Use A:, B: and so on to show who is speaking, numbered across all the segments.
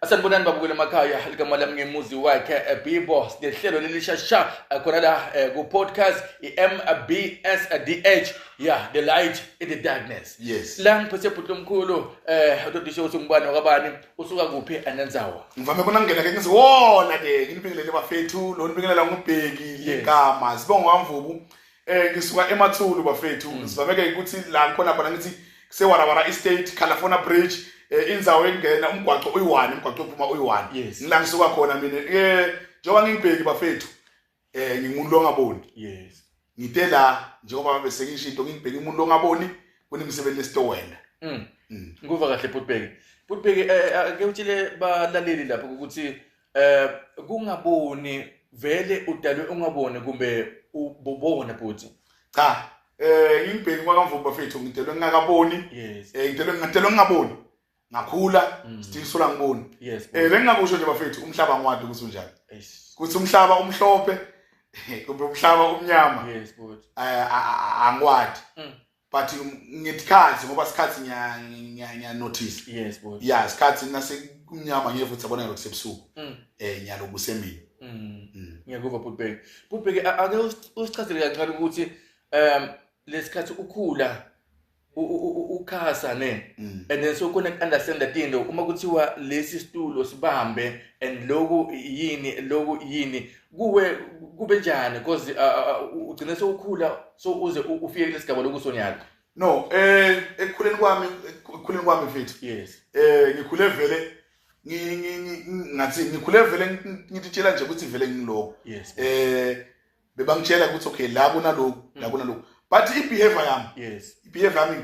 A: asanibonani babukela emakhaya likamali yami ngemuzi wakhe eh, bibo sinehlelo lelishasha eh, khona la eh, ku-podcast i-mbsdh ya the light in the darkness Yes. la ngiphethe
B: bhuti lomkhulu
A: um utodisho ukuthi ngubani wakabani usuka kuphi anenzawa ngivame kona ngingena ke
B: ngithi wona ke nginibingelele bafethu lo nibingelela ngubheki Yes. legama sibonga kwamvubu Eh ngisuka eMathulu bafethu mm. sivameke ukuthi la ngikhona khona ngithi kusewarawara estate California bridge eh, inzawo engena umgwaqo uyi-one umgwaqo ophuma uyi-one yes. ngila ngisuka khona mina eh njengoba ngingibheki bafethu eh ngingumuntu longaboni yes ngite
A: la
B: njengoba bese ngisho into ngibheke umuntu longaboni kunemisebenzi esitowenda mm. mm.
A: nguva kahle bhutbheki bhutbheki eh, eh, ake utshile balaleli lapho ukuthi eh kungaboni vele udalwe ungaboni kumbe ububona bhuti cha
B: eh imbheki kwakamvubu bafethu ngidelwe ngingakaboni yes eh ngidelwe ngidelwe ngingaboni ngakhula mm. still sola ngiboni yes eh bengingakusho nje bafethu umhlaba ngwadi ukuthi unjani yes kuthi umhlaba umhlophe kumbe umhlaba umnyama yes bhuti
A: eh angwadi
B: mm. but ngetikhathi ngoba sikhathi ngiya notice yes boy yeah sikhathi
A: nase
B: kunyama ngeke futhi abona lokho sebusuku mm. eh ngiyaloku semini mm. mm. ngiyakuva
A: butbeke butbeke ake usichazele kancane ukuthi um lesikhathi ukhula ukhasa ne mm. and then so kona understand that into uma kuthiwa lesi stulo sibambe and loku yini loku yini kuwe kube njani because ugcine sewukhula so uze ufike kule sigaba lokusonyana no eh
B: ekukhuleni kwami ekukhuleni kwami mfethu yes eh
A: ngikhule vele
B: ngathi ngikhule vele ngititshela nje ukuthi vele ngiloko yes eh bebangitshela ukuthi okay la kunaloko la mm. kunaloko but ibehavior yami yes ibehavior yami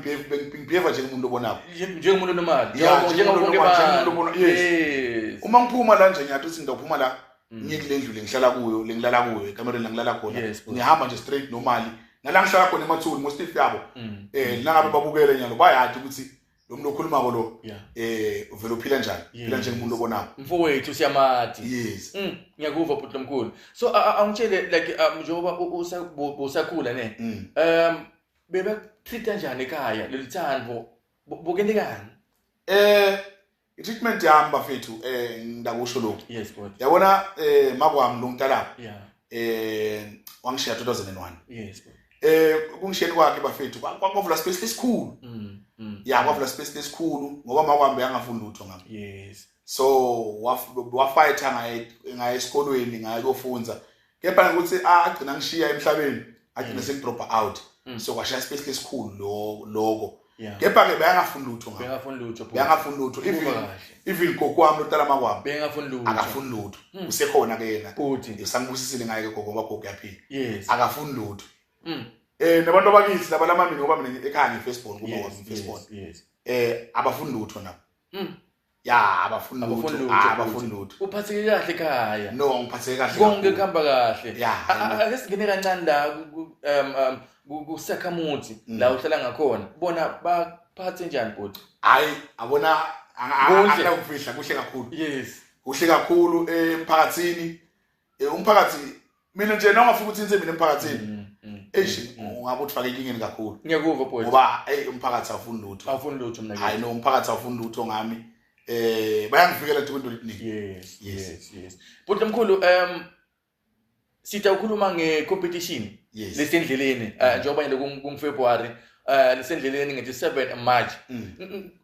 B: ngibehave nje umuntu obonayo njengomuntu normal
A: njengomuntu
B: obona yes uma ngiphuma la nje ngiyathi ukuthi ngizophuma la Mm. ngiye kule ndlu lengihlala kuyo lengilala kuyo ekamereni langilala khona ngihamba nje straight normally nala ngihlala khona emathuni most if yabo mm. eh mm. nangabe babukele nyalo bayathi ukuthi lo muntu okhuluma ko lo eh uvela uphila njani phila nje umuntu obonayo mfowethu siyamathi
A: yes
B: ngiyakuva bhuti
A: lomkhulu so angitshele like um, njengoba usakhula ne um bebe treat kanjani ekhaya lelithando bukeni kani eh
B: i-treatment yami bafethu um eh, ngidakusho lokhu yes, yabona
A: um eh,
B: makwami lo mntalabo um yeah. eh, wangishiya 2001 yes,
A: um kungishiyeni
B: kwakhe bafethu kwavula space lesikhulu mm, mm, ya kwavula mm. space lesikhulu ngoba makwambe yangafuni lutho ngami yes. so wafayitha ngaye esikolweni ngaye kofunza kepha ngikuthi agcina ngishiya emhlabeni agcina mm. sengidropa out mm. so kwashaya ispace lesikhulu lo loko kepha ke beyangafuni lutho ngakho beyangafuni lutho beyangafuni lutho even even gogo wami lotala makwami beyangafuni lutho akafuni
A: lutho mm.
B: usekhona ke yena futhi usangibusisile
A: ngaye ke gogo
B: ngoba gogo uyaphila yes akafuni
A: lutho
B: eh nabantu abakithi laba lamamini ngoba mina ekhaya ngifirstborn kuba wami firstborn eh abafuni lutho nabo ya abafuni Abafuni lutho lutho, Ah, abafuni futhi. lutho uphatheke kahle
A: ekhaya no ngiphatheke kahle konke
B: kakhulu. kuhamba kahle
A: ya A- a- ake singene kancane la ku- ku- um, um, ku- kusakhamuthi Mm. la uhlala ngakhona bona baphathe njani bhuti hayi abona
B: Kuhle. angakufihla kuhle kakhulu yes kuhle
A: kakhulu
B: emphakathini eh umphakathi mina nje noma ufika uthinte mina emphakathini mm, mm, mm, eish ungabe uthfake inkingeni kakhulu ngiyekuva boy ngoba hey
A: umphakathi
B: awufuni lutho awufuni lutho mina hayi no umphakathi
A: awufuni
B: lutho ngami eh bayangifikela nje kwinto liningi yes yes yes
A: but lomkhulu um sitha ukhuluma nge competition lesendleleni eh, njengoba nje ku February eh lisendleleni ngithi 7 March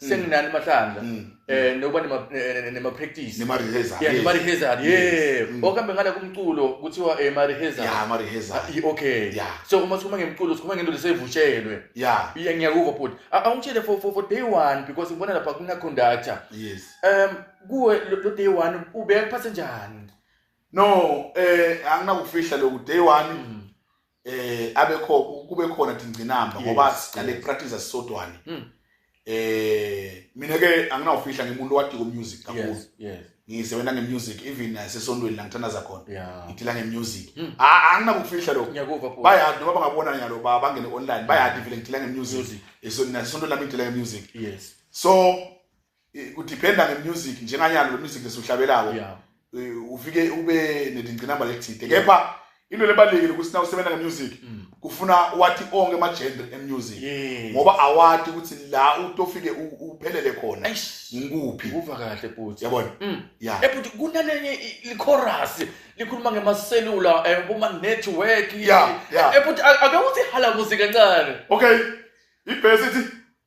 A: Mm. senginani amahlandla um mm. eh, nokuba nema-practice nema-rehezard
B: ye
A: mm. okuhambe ngala kumculo kuthiwa eh, ma-rehezard-okay
B: ah,
A: so uma sikhuma ngemculo sikhuma ngento lesevushelwe ngiyakuva bhuti awungitshele for day one because ngibona lapha kunaconductor um
B: kuwe
A: lo day one ubeka kuphathe njani no
B: um anginakufihla loku day one eh abekho kube khona dingcinamba ngoba siqale practice sisodwane hmm. eh mina ke anginawufihla ngimuntu wadiko music kakhulu ngisebenza ngemusic even nasesontweni la ngithandaza khona ngidila ngemusic hmm. anginakufihla lokho bayadi noma bangabona nyalo bangene online bayadi vele ngidila ngemusic esontweni lami ngidila ngemusic so Eh, kudiphenda ngemusic njenganyalo wemusic lesuhlabelako yeah. Eh, ufike ube nedingcinamba lethide kepha into lebalulekile ukuthi na usebenza ngemusic mm. kufuna wathi onke ama-genre emusic ngoba awati ukuthi la utofike uphelele khona ngikuphi kuva kahle bhuti
A: yabona mm. ya eh,
B: bhuti
A: kunanenye ichorus likhuluma ngemaselula eh, kuma-network ya ya bhuti ake uthi hala muzi kancane okay
B: ibhesi ithi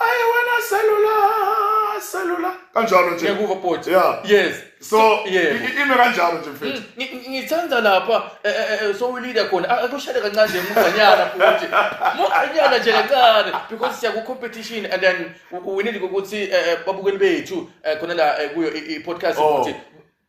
B: ayi wena selula selula kanjalo nje ngiyakuzwa bhuti Yeah.
A: yes so yebo
B: i- ime kanjalo nje mfethu Mm, ngi- ngi- ngithanda lapha
A: eh, eh, eh, sowulile khona A- akushade kancane nje muganyana futhi muganyana nje kancane because siya ku-competition and then u- uwinile ukuthi eh, eh, babukeli bethu eh, khona la eh, kuyo i- i-podcast Oh. ukuthi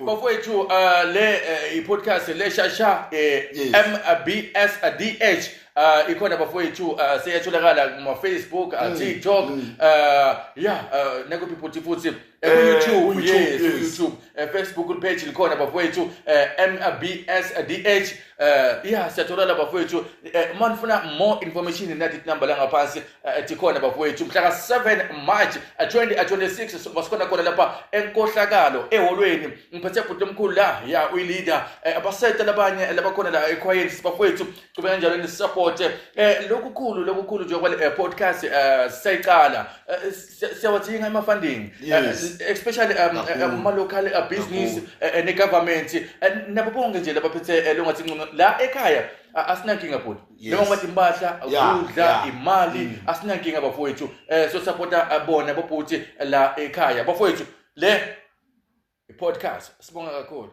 B: Bafowethu uh, le
A: uh, i-podcast le shasha eh, Yes. MBSDH uh, ikhona bafowethu uh, seyatholakala kuma-facebook Mm, uh, tiktok uh, ya uh, nakuphi futhi futhi Eh, ekuyoutube ku-YouTube, yes yes. ku-youtube Eh, facebook page likhona bafowethu uh, MBSDH uh, ya siyatholakala bafowethu uh, uma nifuna more information nathi number langaphansi Eh, tikhona bafowethu mhla ka-7 march 2026 eh, eh, basikhona khona lapha enkohlakalo eholweni ngiphethe bhuti omkhulu la ya uyileader abasete labanye labakhona la ekhwayeni sibafowethu cube kanjalo nisupporte um lokukhulu lokukhulu nje kwale podcast um sisayiqala siyawathinga ama-funding especially um, um, ama-local uh, business ne-government nabo bonke nje labaphethe longathi ncono la ekhaya asinankinga bhuti njengoba timpahla ukudla imali mm. asinankinga bafowethu um sosapota eh, bona bobhuti eh, la ekhaya bafowethu le i-podcast sibonga kakhulu